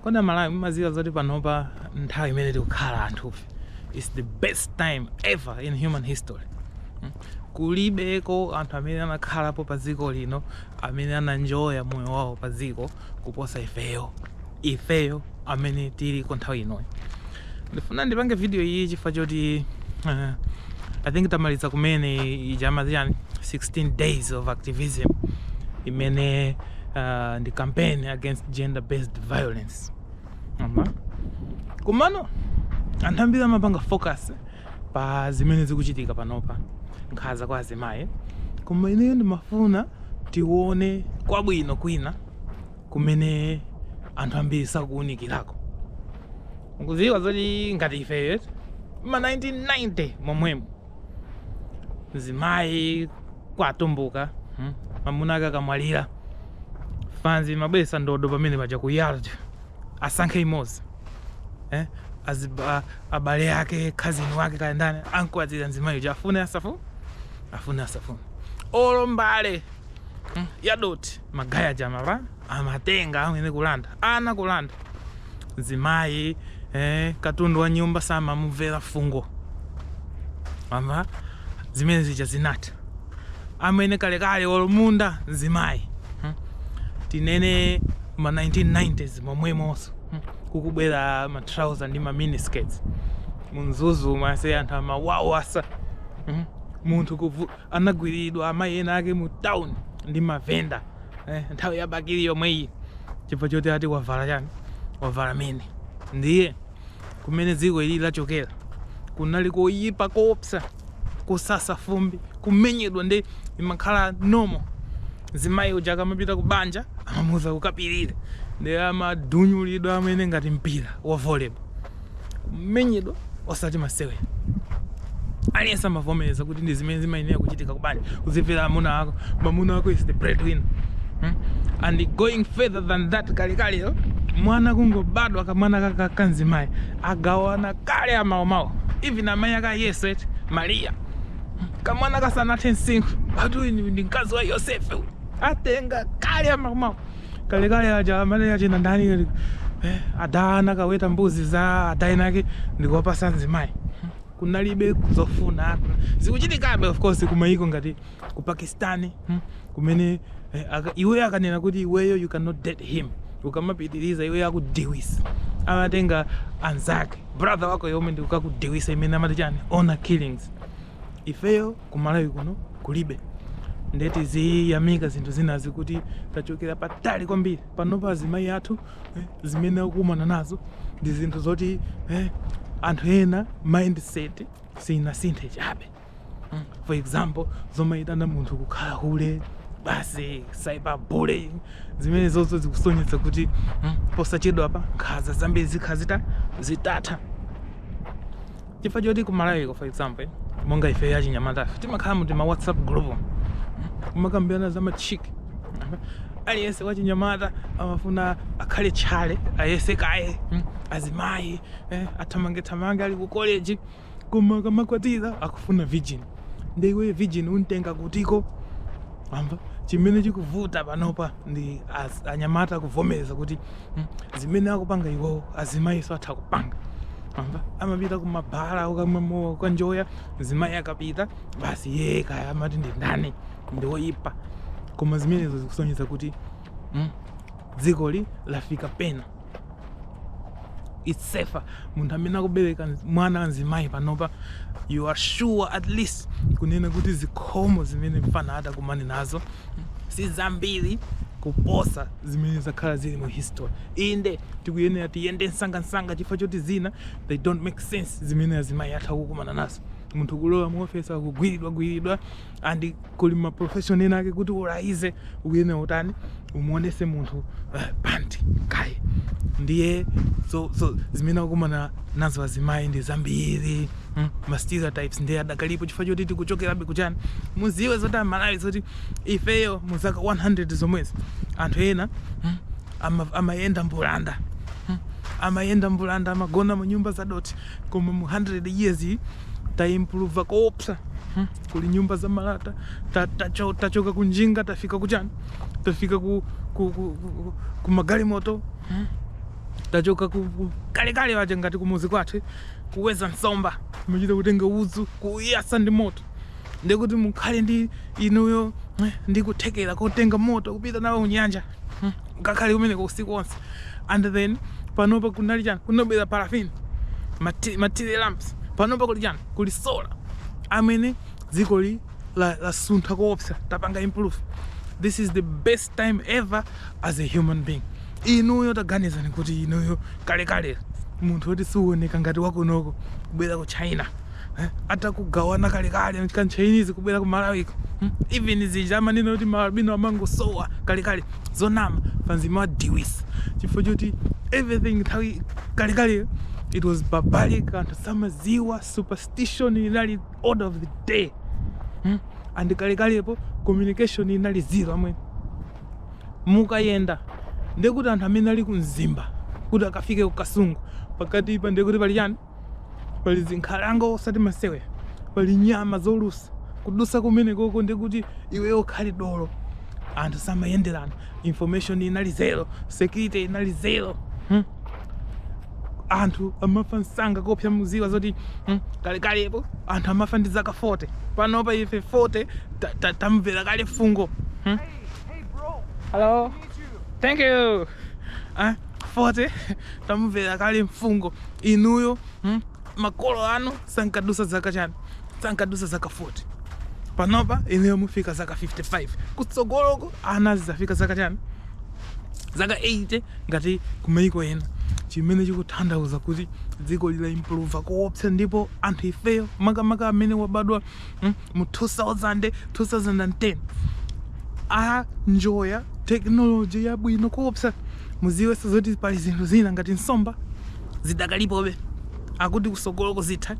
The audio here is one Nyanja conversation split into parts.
kodi amalawi mumaziwa zoti panopa nthawi imene tikukhala anthufe is the best time ever in human history hmm? kulibeko anthu amene anakhalapo pa dziko lino amene ananjoya moyo wawo pa dziko kuposa ifeyo ifeyo amene tiliko nthawi inoyi ndifuna ndipange video iyi chifukwa choti uh, i think tamaliza kumene ija amaziyani 16 days of activism imene uh, ndi campaign against gender based violence komano anthu ambiri amapanga focus pa zimene zikuchitika panopa nkhaza kwa azimayi koma ineyo ndimafuna tione kwabwino kwina kumene anthu ambiri sakuunikirako mukuziwa zoti ngati ifeyo ma 1990 momwemo mzimayi kwatumbuka hmm? mamuna ake akamwalira afanzi amabweresa ndodo pamene paja kuyala asankhe imodzi eh? Aziba, abale ake cousin wake kaya ndani ankwatira mzimayi uja afune asafune afune asafune olo m'bale hmm? yadoti magaye aja amaba amatenga amwene kulanda ana kulanda mzimayi eh, katundu wa nyumba samamumvera fungo mama zimene zija zinatha amwene kalekale olumunda mzimayi hmm? tinene ma 1990s momwemonso hmm? kukubwera ma trouser ndi ma miniskirts mu mzuzu mase anthu amawawasa hmm? munthu kuvu anagwililidwa amayi ena ake mu town ndi ma vendor eh, nthawi ya bakili yomweyi chifukwa choti ati wavala chani wavala mini ndiye kumene dziko ili lachokera kunali koyipa koopsa kusasa fumbi kumenyedwa ndi imakhala norm mzimayi uja akamapita ku banja amamuuza kukapirira ndi amadunyulidwa amwene ngati mpira wa volleyball kumenyedwa osati masewera aliyense amavomereza kuti ndi zimene zimayenera kuchitika kubanja uzimvera amuna ako mamuna ako is the breadwinner hmm? and going further than that kalekale mwana kungobadwa kamwana kaka kanzimayi agawana kale amaomawo even amayi ake a yesu eti mariya kamwana kasanathe msinkhu ati uyu ndi mkazi wa yosefe atenga kale amaomawo kalekale aja amene achina ndani eh, adha anakaweta mbuzi za adha inake ndikuwapasa nzimayi kunalibe zofuna zikuchitikabe of course kumayiko ngati ku pakistani hmm, kumene eh, aka, iweyo akanena kuti iweyo you cannot date him ukamapitiriza iweyo akudiwisa amatenga anzake brother wako yomwe ndikukakudiwisa imene amati chani honor killings ifeyo ku Malawi kuno kulibe ndiye tiziyamika zinthu zinazi kuti tachokera patali kwambiri panopa azimayi athu eh, zimene akukumana nazo ndi zinthu zoti eh, anthu ena mindset sinasinthe chabe Mm. for example zomayitana munthu kukhala hule basi cyberbullying zimene zonsezo zikusonyeza kuti mm, posachedwapa nkhanza zambiri zikhala zita zitatha chifukwa choti ku Malawiko for example monga ife achinyamatafe timakhala mu tima whatsapp group kumakambirana za machik aliyense wachinyamata amafuna akhale tchale ayese kaye mm, azimayi eh, athamangethamange ali ku college koma akamakwatira akufuna virgin nde iweyo virgin umutenga kutiko amva chimene chikuvuta panopa ndi az- anyamata kuvomereza kuti mm, zimene akupanga iwowo azimayiso atha kupanga amuna amapita kumabala kukamwa mowa kukanjoya mzimayi akapita basi iyeyo kaya amati ndi ndani ndiwoyipa koma zimenezo zikusonyeza kuti mm, dzikoli lafika pena it's safer munthu amene akubereka mwana wamzimayi panopa you are sure at least kunena kuti zikhomo zimene mfana atakumane nazo si zambiri kuposa zimene zakhala zili mu history inde tikuyenera tiyende msangamsanga chifukwa choti zina they don't make sense zimene azimayi atha kukumana nazo munthu kulowa mu ofesi akugwiridwa gwiridwa and kuli ma profession ena ake kuti ulaize uyene utani umuonetse munthu uh, panti kaye ndiye so, so zimene akumana nazo azimayi ndi zambiri mm, ma stereotypes ndiye adakalipo chifukwa choti tikuchokerabe kuchani mudziwe zoti aMalawi zoti ifeyo mu zaka 100 zomwezi anthu ena mm, ama- amayenda mbulanda mm, amayenda mbulanda amagona mu nyumba za dothi koma mu 100 years iyi taimprova koopsa mm. kuli nyumba za malata tachoka ta, ta, ta ku njinga tafika ku chani tafika ku, ku, ku, ku, ku magalimoto hmm? tachoka ku, ku kalekale uja ngati kumuzi kwathu kuweza nsomba mumachita kutenga udzu kuyatsa ndi moto ndikuti mukhale ndi inuyo eh, ndi kuthekera kotenga moto kupita nawo kunyanja kukakhala kumeneko usiku wonse and then panopa kunali chani kunabwera parafini mati- matire lamps panopa kuli chani kuli sola amwene dzikoli la- lasuntha koopsa tapanga improve this is the best time ever as a human being inuyo taganizani kuti inuyo kalekale munthu woti sukuoneka ngati wakunoko kubwera ku china eh, atakugawana kalekale kachi Chinese kubwera ku Malawi hmm? even zija amanenazo kuti maalbino amangosowa kalekale zonama panzima wa diwisi chifukwa choti everything ya kalekale it was barbaric anthu samaziwa superstition inali order of the day hmm? and kalekalepo communication inali zero amene mukayenda ndekuti anthu amene ali ku Mzimba kuti akafike ku Kasungu pakati pa ndekuti pali chani pali zinkhalango osati masewera pali nyama zolusa kudutsa kumene koko ndikuti iweyo unkhali dolo anthu samayenderana information inali zero security inali zero hmm? anthu amafa msanga koopsa muziwa zoti hmm? kalekalepo anthu amafa ndi zaka 40 panopa ife 40 ta- ta- tayimvera kale fungo hmm? Hey, hey, bro. hello Need you. thank you ah, 40 tamumvera kale mfungo inuyo hmm? makolo anu sankadusa zaka chani sankadusa zaka 40 panopa inuyo mufika zaka 55 kutsogoloko ana zizafika zaka chani zaka 80 ngati kumaiko ena chimene chikutanthauza kuti dziko lila improver koopsa ndipo anthu ifeyo makamaka amene wabadwa mm, mu 2000 2010 anjoya tekinoloji yabwino koopsa muziwenso zoti pali zinthu zina ngati nsomba zidakalipobe akuti kusogoloko zitha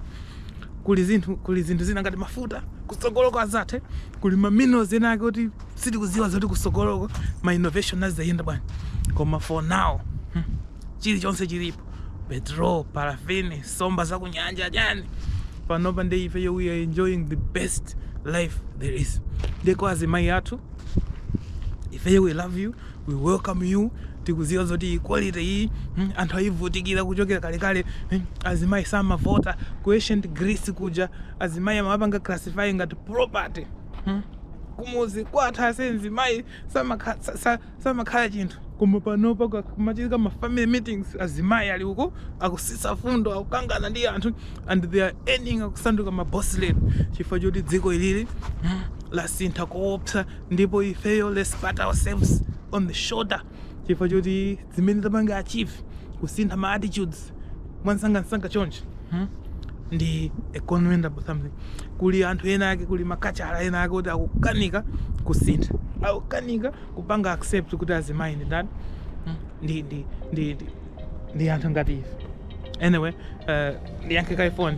kuli zinthu kuli zinthu zina ngati mafuta kusogoloko azathe kuli maminerals ena ake kuti sitikuziwa zoti kusogoloko ma innovation azayenda bwanji koma for now chilichonse chilipo petrol parafini nsomba za kunyanja chani panopa ndi ifeyo we are enjoying the best life there is ndeko azimayi athu ifeyo we love you we welcome you tikuziwa zoti equality iyi mm, anthu ayivutikira kuchokera kalekale mm, azimayi samavota ku ancient Greece kuja azimayi amapanga classify ngati property mm. kumuzi kwathu azimayi samakha- sa- sa- samakhala chinthu koma panopa kumachitika ma family meetings azimayi ali uko akusisa fundo akukangana ndi anthu and they are earning akusanduka ma boss lady chifukwa choti dziko ilili hmm, lasintha koopsa ndipo ifeyo let's pat ourselves on the shoulder chifukwa choti zimene tapanga achieve kusintha ma attitudes mwansangansanga choncho hmm? ndi a commendable something kuli anthu ena ake kuli ma culture ena ake kuti akukanika kusintha akukanika kupanga accept kuti azimayi ndi ndani hmm? ndi ndi ndi ndi ndi anthu ngati ife anyway uh, ndiyankhe kaye foni